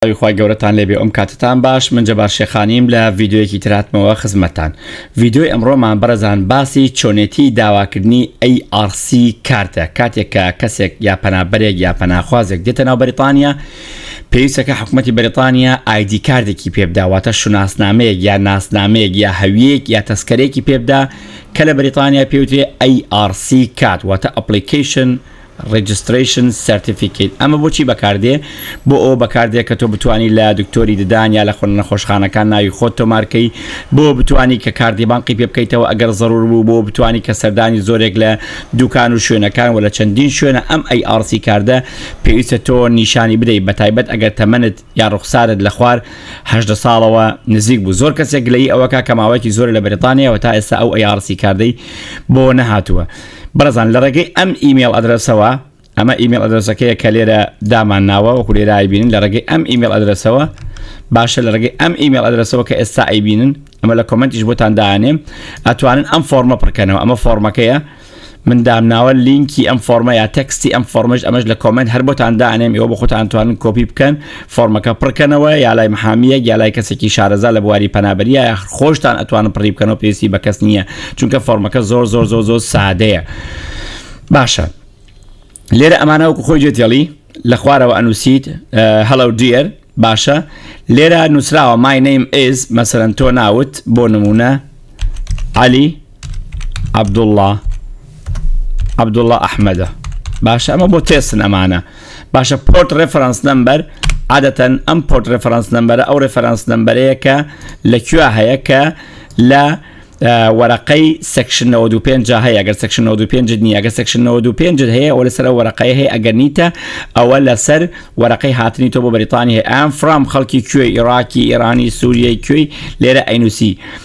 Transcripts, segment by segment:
سڵاوی خوای گەورەتان لێ بێ ئۆم کاتتان باش من جەبار شێخانیم لە ڤیدیۆیەکی تر هاتمەوە خزمەتتان ڤیدیۆی ئەمڕۆمان بەڕێزان باسی چۆنێتی داواکردنی ئەی ئاڕ سی کارتە کاتێک کە کەسێک یا پەنابەرێک یا پەناخوازێک دێتە ناو بەریتانیا پێویستە کە حکومەتی بەریتانیا ئایدی کاردێکی پێ بدا واتە شوناسنامەیەک یا ناسنامەیەک یا هەویەک یا تەسکەرێکی پێ بدا کە لە بەریتانیا پێوترێ ئەی ئاڕ سی کات واتە ئەپڵیکەیشن Registration Certificate، ئەمە بۆچی بەکاردێ؟ بۆ ئەوە بەکاردێ کە تۆ بتوانی لە دکتۆری ددان یا لە خۆ نەخۆشخانەکان ناوی خۆت تۆمارکەی بۆ بتوانی کە کاردی بانقی پێ بکەیتەوە ئەگەر زەرور بوو بۆ بتوانی کە سەردانی زۆرێک لە دوکان و شوێنەکان وە لە چەندین شوێنە ئەم ئەی ئاڕ سی کاردە پێویستە تۆ نیشانی بدەی بەتایبەت ئەگەر تەمەنت یا ڕوخسارت لە خوار هەژدە ساڵەوە نزیک بوو زۆر کەسێک گلەیی ئەوەکا کە ماوەیەکی زۆرە لە بەریتانیاوە تا ئێستا ئەو ئەی ئاڕ سی کاردەی بۆ نەهاتووە. بەڕێزان لە ڕێگەی ئەم ئیمێڵ ئەدرەسەوە، ئەمە ئیمێڵ ئەدرەسەکەیە کە لێرە دامان ناوە وەکو لێرە ئایبینن لە ڕێگەی ئەم ئیمێڵ ئەدرەسەوە باشە لە ڕێگەی ئەم ئیمێڵ ئەدرەسەوە کە ئێستا ئەیبینن ئەمە لە کۆمەنتیش بۆتان دانێم ئەتوانن ئەم فۆرمە پڕکەنەوە ئەمە فۆرمەکەیە من دامناوە لینکی ئەم فۆرمە یا تەکستی ئەم فۆرمەش ئەمەش لە کۆمنت هەر بۆتان دانێم ئێوە بۆ خۆتان توانن کۆپی بکەن فۆرمەکە پڕکەنەوە یا لای محامیەک یا لای کەسێکی شارەزا لە بواری پەنابەریە یاخ خۆشتان ئەتوانن پڕی بکەنەوە پێویستی بە کەس نییە چونکە فۆرمەکە زۆر زۆر زۆر زۆر سادەیە باشە لێرە ئەمانە وەکو خۆی جێتێڵی لە خوارەوە ئەنووسیت هەڵە دیێر باشە لێرە نووسراوە ماینەیم ئێز مەسەرەن تۆ ناوت بۆ نمونە علی عەبدوڵڵا عەبدوڵڵا ئەحمەدە باشە ئەمە بۆ تێسن ئەمانە باشە پۆرت ڕێفرەنس نمبەر عادەتەن ئەم پۆرت ڕێفرەنس نمبەرە ئەو ڕێفرەنس نمبەرەیە کە لە کوێ هەیە کە لە وەرەقەی سەکشن 95 هەیە گەر سەکشن 95 نیە گە سەکشن 95 هەیە ئەو لەسەر وەرەقەی هەیە ئەگەر نیتە ئەوە لەسەر وەرەقەی هاتنی تۆ بۆ بەریتانی هەیە ئەم فرام خەڵکی کوێ عێراکی ئێرانی سووریای کوێی لێرە ئەینوسی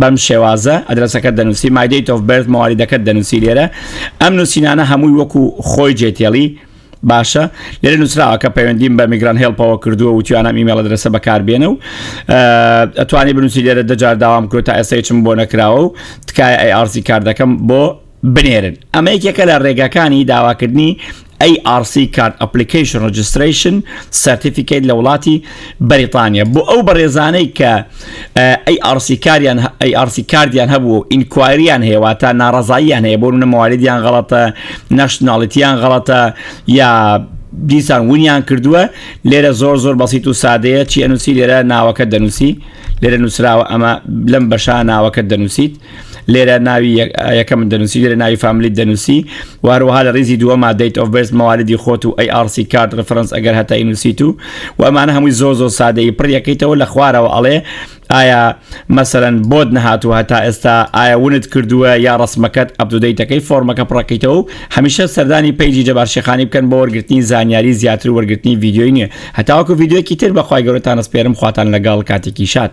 بەم شێوازە ئەدرەسەکەت دەنووسی My Date of Birth موالیدەکەت دەنووسی لێرە ئەم نووسینانە هەمووی وەکو خۆی جێتێڵی باشە لێرە نووسراوە کە پەیوەندیم بە میگران هێڵپەوە کردووە و توانام ئیمێڵە درەسە بەکاربێنە و ئەتوانی بنووسی لێرە دەجار داوام کرد تا ئێستا چم بۆ نەکراوە و تکایە ئەی ئارسی کار دەکەم بۆ بنێرن ئەمە یەکێکە لە رێگاکانی داواکردنی ARC Card Application Registration Certificate لە وڵاتی بەریتانیا بۆ ئەو بەڕێزانەی کە ARC کاریان ARC کاردیان هەبوو و ئینکوایریان هەیە واتە ناڕەزاییان هەیە بۆ منە موالیدیان غەڵەتە نەشناڵیتیان غەڵەتە یا دیسان ونیان کردووە لێرە زۆر زۆر بەسییت و سادەیە چی ئەنووسی لێرە ناوەکە دەنووسی لێرە نووسراوە ئەمە لەم بەشا ناوەکە دەنووسیت لێرە ناوی یەکەم دەنووسی لێرە ناوی فامیلی دەنووسی واروها لە ریزی دووەما دەیت ئۆف بێست مەوالیدی خۆت و ئەی ئارسی کارد ڕفرەنس ئەگەر هەتای نووسیت و و ئەمانە هەمووی زۆ زۆ سادەی پڕیەکەیتەوە لە خوارەوە ئەڵێ ئایا مەسەرەن بۆت نەهاتوە هەتا ئێستا ئایا ونت کردووە یا ڕسمەکەت ئەبدودەیتەکەی فۆرمەکە پڕەکەیتەوە و هەمیشە سەردانی پەیجی جەبارشیخانی بکەن بۆ وەرگرتنی زانیاری زیاتر وەرگرتنی ویددیوی نوێ هەتاوەکو ویددیوەکی تر بەخوای گەورەتان ئەسپێرم خواتان لەگەڵ کاتێکی شاد.